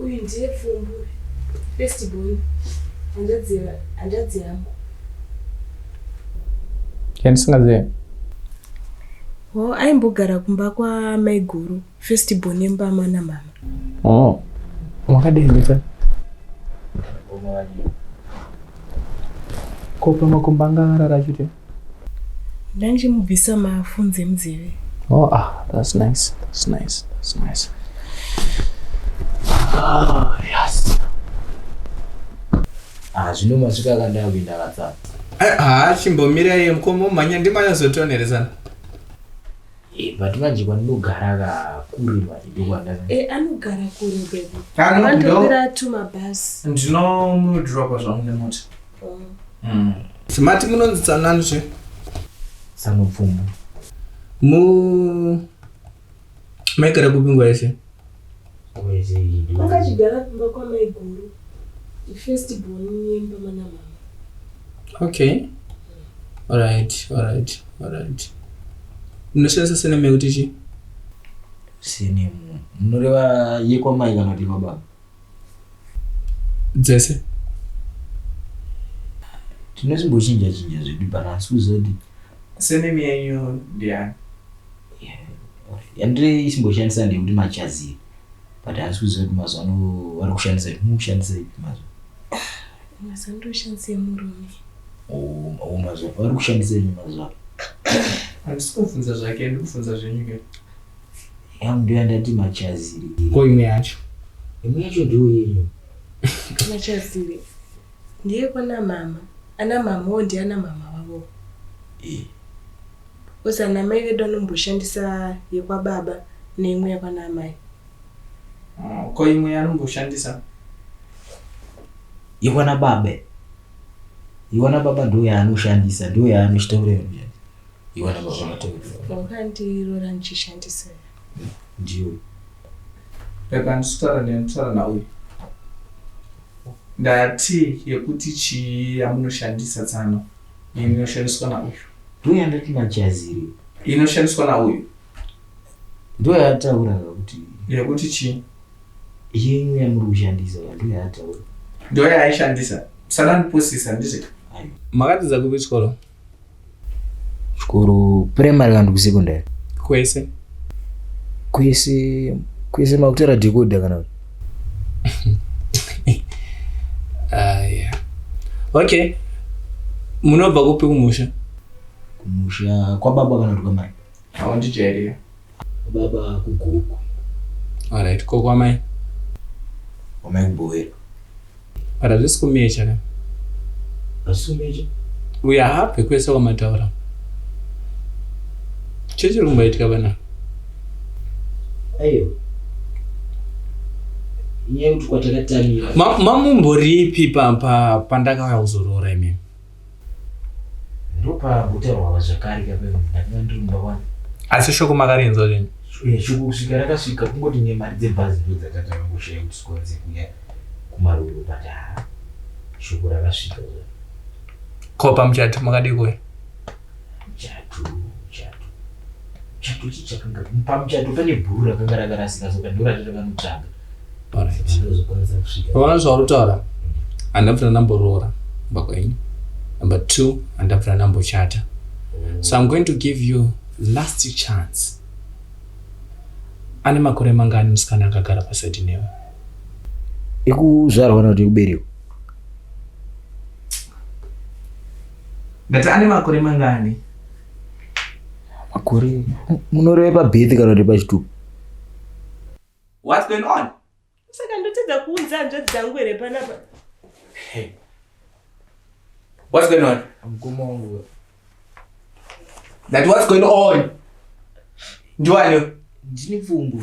uyu ndiye pfumbu first born hanzvadzi yangu yandisingazive ho aimbogara kumba kwamaiguru first born yembama namama oh makadii mita ko pamakumbanga arara chute ndanjimubvisa mafunze muzeve oh ah that's nice that's nice that's nice ah yes ah zvino masvika kandava kuenda katsana eh, ah chimbomirai iye mukombo manya ndimanyazotonerezana eh, but manje kwanogara kakure manje ndokwandaa eh, anogara kure bebi anogara tumabhasi ndinomudrapa zvangu nemota mm. mati munonzi tsanani zve tsanopfumbu mu maigara kupi nguva yese makachigara kumba kwamaiguru first born yemba mana mama okay alright alright alright munoshandisa seneme kuti chi senemu munoreva yekwamai kana kuti yemababa dzese tinozimbochinja chinja zvedu pana asi kuzoti senemi yenyu ndiyani yandiri isimboshandisa ndeyekuti machazii but asi kuzoti mazuva ano vari kushandisa mukushandisa ipi mazuva mazuva ndoshandisa yemurume o mazuva vari kushandisa yenyu mazuva andisi kufunza zvake ndikufunza zvenyu ke Yangu ndio yandati machaziri. Ko imwe yacho? Imwe yacho ndio yenyu. Machaziri. Ndiye kwana mama. Ana mama wo ndiye ana mama wavo. Eh. Osa na mai vedu anomboshandisa yekwa baba neimwe yakwana mai. Oh, ko imwe yanomboshandisa? Yekwana baba. Yekwana baba ndio yaanoshandisa, ndio yaanoshita ure. iwe ndabva zvakatevera wakandirora ndichishandisa ndiwe rega ndisutara ndiye ndisutara nauyo ndati yekuti chii yamunoshandisa tsano inoshandiswa nauyo ndiyo yandati machaziri inoshandiswa nauyo ndiyo yataura kuti yekuti chii yenyu yamuri kushandisa ndiyo yataura ndiyo yaaishandisa sana ndipusisa ndizvika makatiza kupi chikoro Chikoro primary kana kusekondari? Kwese. Kwese kwese makutara dhekodha kana kuti? Ah, yeah. Okay. Munobva kupi kumusha? Kumusha kwababa kana kuti kwamai? Haundijairira. Baba ku Gokwe. Alright ko kwamai. Kwamai kubowera. But hazvisi kumecha ka. Hazvisi kumecha. Uya hapwe kwese kwamataura. Chii chiri kumboitika vana? Ayo. Nyaya yekuti kwatakatamira. Mamumboripi pa pa pandakauya kuzoroora imimi? ndopagutarwava zvakare kape ndakanga ndiri mumba wani asi shoko makarinzwa zvenyu eh, shoko kusvika rakasvika kungoti nemari dzebhazi ndo dzakatanga kushaya kuti sikwanise kuya kumaroro but ha shoko rakasvika ko pamuchati makadii kuya Muchato, muchato, muchato chii chakanga pamuchato pane bhuru rakanga rakarasika soka ndorati rakanotsvaga ndozokwanisa kusvika pavana zvauritaura handina kuti ndamboroora kumba kwenyu number two handina kuti ndambochata so i'm going to give you last chance ane makore mangani musikana akagara pasaidi newe ikuzvarwa kana kuti ikuberekwa Ndati ane makore mangani? Makore munoreva pabirth kana kuti pachitubu? What's going on? Saka ndotadza kuunza hanzvadzi dzangu here panapa? Hey. What's going on? Mkoma wangu. That what's going on? Ndiwani? Ndini pfumbu.